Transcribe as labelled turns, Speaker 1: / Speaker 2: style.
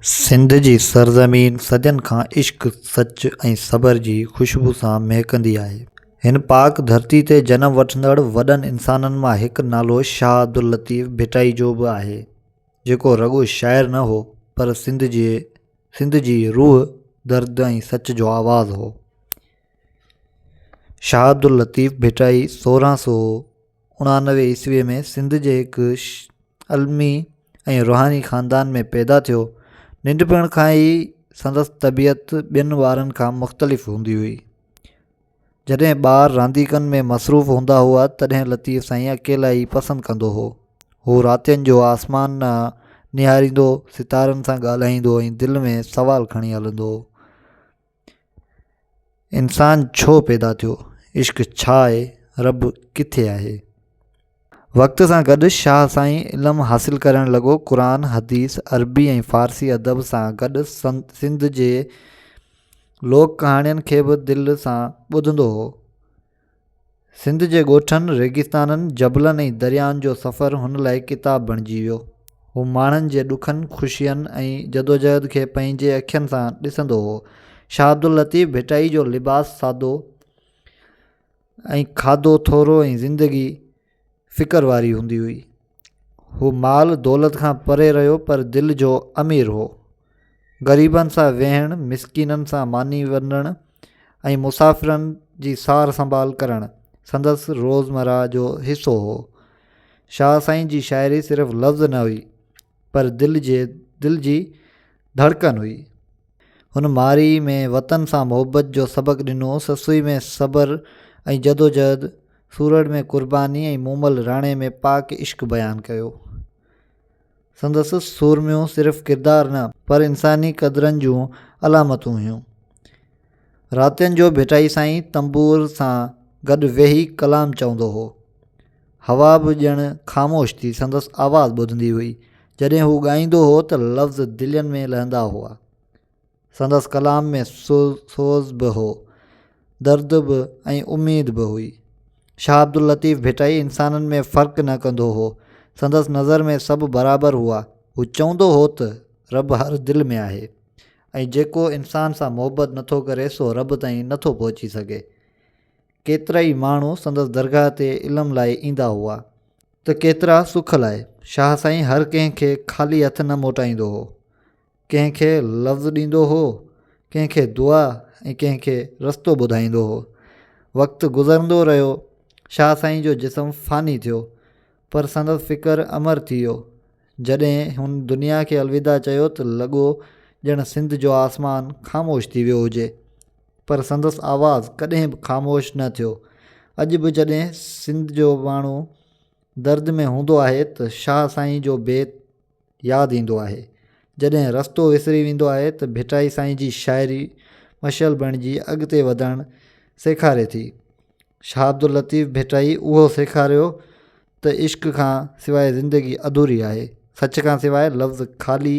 Speaker 1: سنڌ جي سرزمين صدين کان عشق، سچ ۽ صبر جي خوشبو سان مهڪندي آهي. هن پاڪ ڌرتي تي جنم وٺندڙ وڏن انسانن مان هڪ نالو شاهه عبداللطيف ڀٽائي جو به آهي، جيڪو رڳو شاعر نه هو، پر سنڌ جي سنڌ جي روح، درد ۽ سچ جو آواز هو. شاهه عبداللطيف ڀٽائي سورهن سو، اڻانوي عيسويء ۾ سنڌ جي هڪ علمي ۽ روحاني خاندان ۾ پيدا ٿيو ننڍپڻ کان ئي سندس طبيعت ٻين ٻارن کان مختلف هوندي هئي جڏهن ٻار رانديڪن ۾ مصروف هوندا هئا تڏهن لطيف سائين اڪيلا ئي پسند ڪندو هو هو راتين جو آسمان نهاريندو ستارن سان ڳالهائيندو ۽ دل ۾ سوال کڻي هلندو هو انسان ڇو پيدا ٿيو؟ عشق ڇا آهي؟ رب ڪٿي آهي؟ وقت سان گڏ شاهه سائين علم حاصل ڪرڻ لڳو. قرآن، حديث، عربي ۽ فارسي ادب سان گڏ سنڌ جي لوڪ ڪهاڻين کي به دل سان ٻڌندو هو. سنڌ جي ڳوٺن، ريگستانن، جبلن ۽ درياهن جو سفر هن لاء ڪتاب بڻجي ويو. هو ماڻهن جي ڏکن، خوشين ۽ جدوجهد کي پنهنجي اکين سان ڏسندو هو. شاهه عبداللطيف ڀٽائي جو لباس سادو ۽ کاڌو ٿورو ۽ زندگي فڪر واري هوندي هئي. هو مال دولت کان پري رهيو پر دل جو امير هو. غريبن سان ويهڻ، مسڪينن سان ماني ونڊڻ ۽ مسافرن جي سار سنڀال ڪرڻ سندس روزمرهه جو حصو هو. شاهه سائين جي شاعري صرف لفظ نه هئي. پر دل جي دل جي ڌڙڪن هئي. هن مارئي ۾ وطن سان محبت جو سبق ڏنو، سسئي ۾ صبر ۽ جدوجهد، سورڙ ۾ قرباني ۽ مومل راڻي ۾ پاڪ عشق بيان ڪيو. سندس سورميون صرف ڪردار نه پر انساني قدرن جون علامتون هيون. راتين جو ڀٽائي سائين تنبور سان گڏ ويهي ڪلام چوندو هو. هوا به ڄڻ خاموش ٿي سندس آواز ٻڌندي هئي. جڏهن هو ڳائيندو هو ته لفظ دلين ۾ لهندا هئا. سندس ڪلام ۾ سوز به هو، درد به ۽ اميد به هئي. شاهه عبداللطيف ڀٽائي انسانن ۾ فرق نه ڪندو هو. سندس نظر ۾ سڀ برابر هئا. هو چوندو هو ته رب هر دل ۾ آهي ۽ جيڪو انسان سان محبت نٿو ڪري سو رب تائين نٿو پهچي سگهي. ڪيترائي ماڻهو سندس درگاهه تي علم لاء ايندا هئا ته ڪيترا سک لاء. شاهه سائين هر ڪنهن کي خالي هٿ نه موٽائيندو هو. ڪنهن کي لفظ ڏيندو هو، ڪنهن کي دعا ۽ ڪنهن کي رستو ٻڌائيندو هو. وقت گذرندو رهيو، شاهه سائين جو جسم فاني ٿيو، پر سندس فڪر امر ٿي ويو. جڏهن هن دنيا کي الوداع چيو ته لڳو ڄڻ سنڌ جو آسمان خاموش ٿي ويو هجي. پر سندس آواز ڪڏهن به خاموش نه ٿيو. اڄ به جڏهن سنڌ جو ماڻهو درد ۾ هوندو آهي ته شاهه سائين جو بيت ياد ايندو آهي. جڏهن رستو وسري ويندو آهي ته ڀٽائي سائين جي شاعري مشعل بڻجي اڳتي وڌڻ سيکاري ٿي. شاهه عبداللطيف ڀٽائي اهو سيکاريو ته عشق کان سواء زندگي اڌوري آهي. سچ کان سواء لفظ خالي